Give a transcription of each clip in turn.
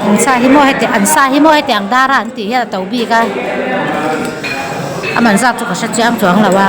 An sa hi maw hetiang an sa hi maw hetiang dar a an tih hian a to bik a, a man zak chu ka hre chiang chuang lo a.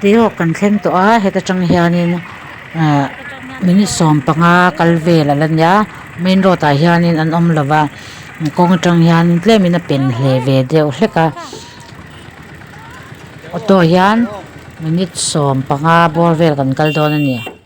Tihawk kan thleng tawh a, heta tang hianin ahh minute sawm panga kal vel a la nia main road ah hianin an awm lo va, kawng atang hian tlem in a pen hle ve deuh hlek a, auto hian minute sawm panga bawr vel kan kal dawn a ni.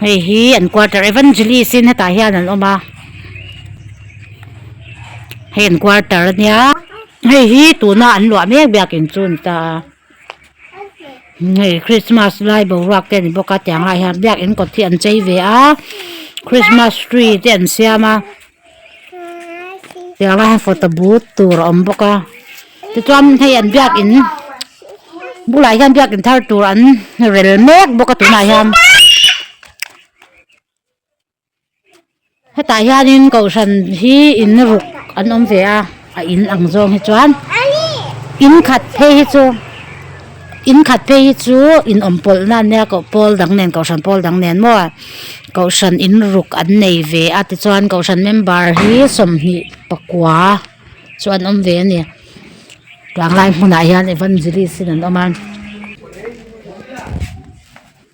hei hi an quarter evangelist in hetah hian an awm a hei an quarter a nia hei hi tuna an luah mek biak in chu an ta a hei Christmas lai boruak te a ni bawk a tiang ah hian biak in kawt hi an chei ve a Christmas tree te an siam a. Tiang rangah photo but tur a awm bawk a tichuan hei an biakin bulah hian biakin thar tur an rel mek bawk a tunah hian hetah hianin kohhran hi in ruk an awm ve a. A in ang zawng hi chuan in khat phei hi chu in khat phei hi chu inawmpawlhna an nia a kohpawl dang nen kohhran pawl dang nen maw kohhran in ruk an nei ve a tichuan kohhran member hi sawmhnih pakua chu an awm ve a ni tlanglai hmunah hian evangelist in an awm a.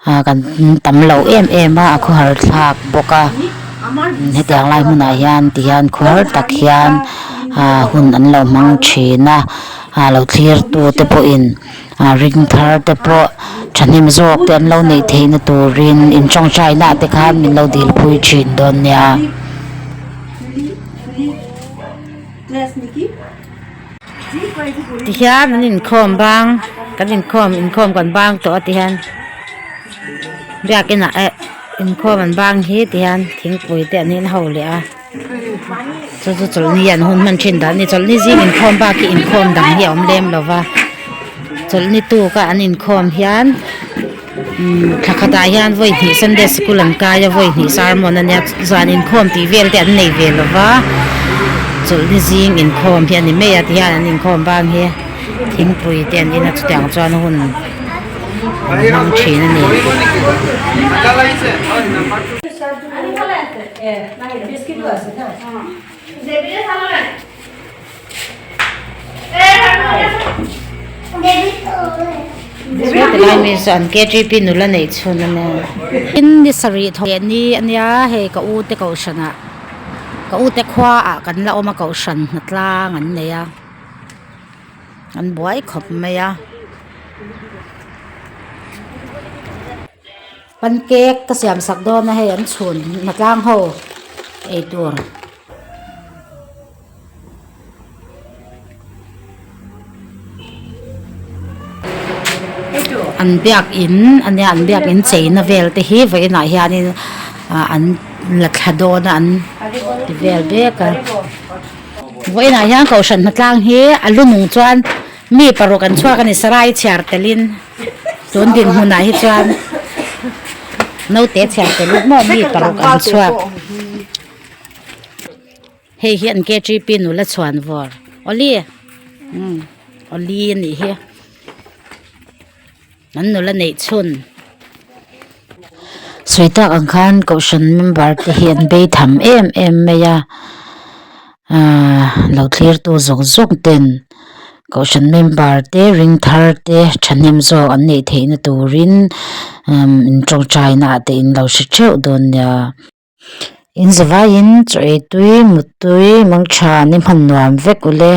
Ahh kan tam lo em em a a khaw har thlak bawk a hetiang lai hmunah hian ti hian khaw har tak hian ahh hun an lo hmang thin a ahh lo thlir tu te pawh in ahh ring thar te pawh thahnem zawk te an lo neih theih na turin in tawng chai na te khan min lo dil pui thin dawn nia. ti hian an inkhawm bang kan inkhawm inkhawm kan bang tawh a ti hian biak inah eh inkhawm an bang hi ti hian thingpui te an in ho leh a chu chu chawlhni an hun hman thin dan a ni chawlhni zing inkhawm bak hi inkhawm dang hi a awm lem lo va chawlhni tukah an inkhawm hian-- Thla khatah hian vawihnihah Sunday School an kai a, vawihnihah Sermon a nia, zan inkhawm tih vel te an nei ve lo va, chawlhna zing inkhawm hi a ni mai a, tihian an inkhawm bang hi, thingpui te an in a, chutiang chuan hun an hmang thin a ni. Sawi tilai mi chu an KGP nula nei chhun a nen. Tin, ni sarih tho leh ni a nia, hei ka ute kohhrana, ka ute khua ah kan la awm a kohhran hna tlang an nei a, an buai khawp mai a. Pan cake ka siam sak dawn a hei an chhun hna tlang ho eitur. an biak in a nia an biak in chei na vel te hi vawi inah hian in ah an la thla dawn a an ti vel bik a vawi inah hian kohhran hna tlang hi a lu mum chuan mi paruk an chhuak a ni sarai chhiar tel in tun din hmun ah hi chuan naute chhiar tel in maw mi paruk an chhuak. Hei hian KTP nula chhuan vawr Oli umm Oli a nih hi an nula neih chhun sawi tak ang khan kohhran member te hian bei tham em em mai a aaa lo thlir tu zawk zawk ten kohhran member te ring thar te thahnem zawk an neih theih na turin umm in tawngtai na ah te in lo hre theuh dawn nia. Inzavaiin chaw eitui, muttui, mangtha an inhman nuam vek ulh e.